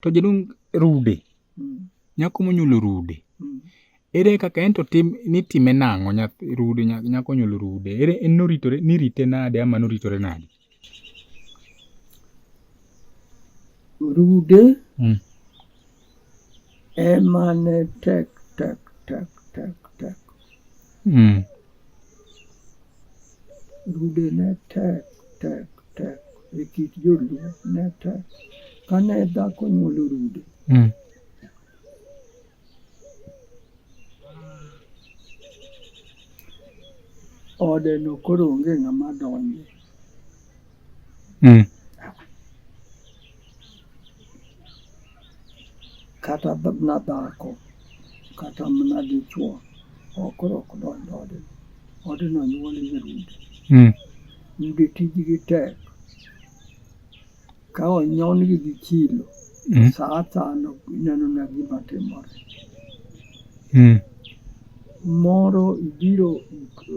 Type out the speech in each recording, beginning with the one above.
To jaduong' rude, Mm. nyako monyuolo rude. Mm. Ere kaka ento tim nitime nang'o nyathi rude nya- nyako nyuolo rude. Ere en noritore nirite nade ama noritore nade? Rude Mm. ema ne tek tek tek tek tek Mm. Rude ne tek tek tek e kit joluo ne tek. Kane dhako nyuolo rude mm. ode no koro onge ng'ama donje mm. kata na dhako kata mana dichuo ok rok donjo ode odno nyuol nyirude mm. yudo tijgi tek ka onyon-gi gi chilo mm. sa asano ineno na gima timore mm. moro ibiro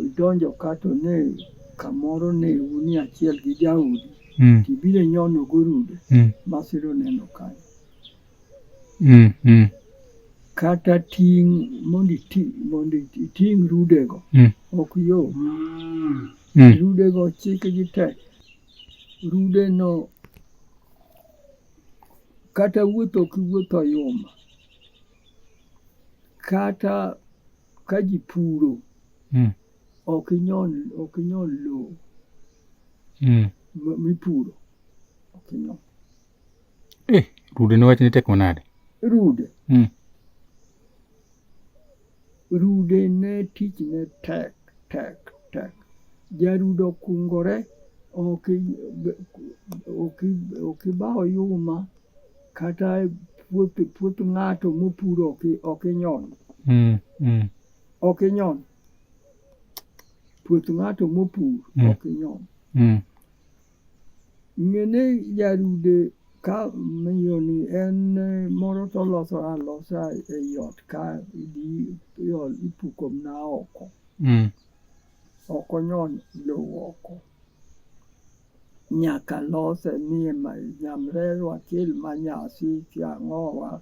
idonjo kato ne kamoro ne uni achiel gi jaudi mm. tibiro nyono gorude mm. masiro neno kanyo mm. mm. kata ting' mondo iting' rudego mm. ok yo mm. mm. rudego chikgi tek rudeno kata wuotho ok iwuotho yuma kata ka ji puro mm. ok inyon ok inyon lowo mm. mipuro ok inyon eh, rude ne wachni tek manade rude mm. rude ne tich ne tek tek tek jarudo kungore ok ibawo yuma kata puoth ng'ato mopuro ok inyon mm, mm. ok inyon puoth ng'ato mopur mm. ok inyon mm. ng'ene jarude ka miyoni en eh, moro to loso alosa e yot ka idhi ipuko mna oko mm. ok onyon lowo oko nyaka lose ni nyamrerwa kil manyasi tiang'owa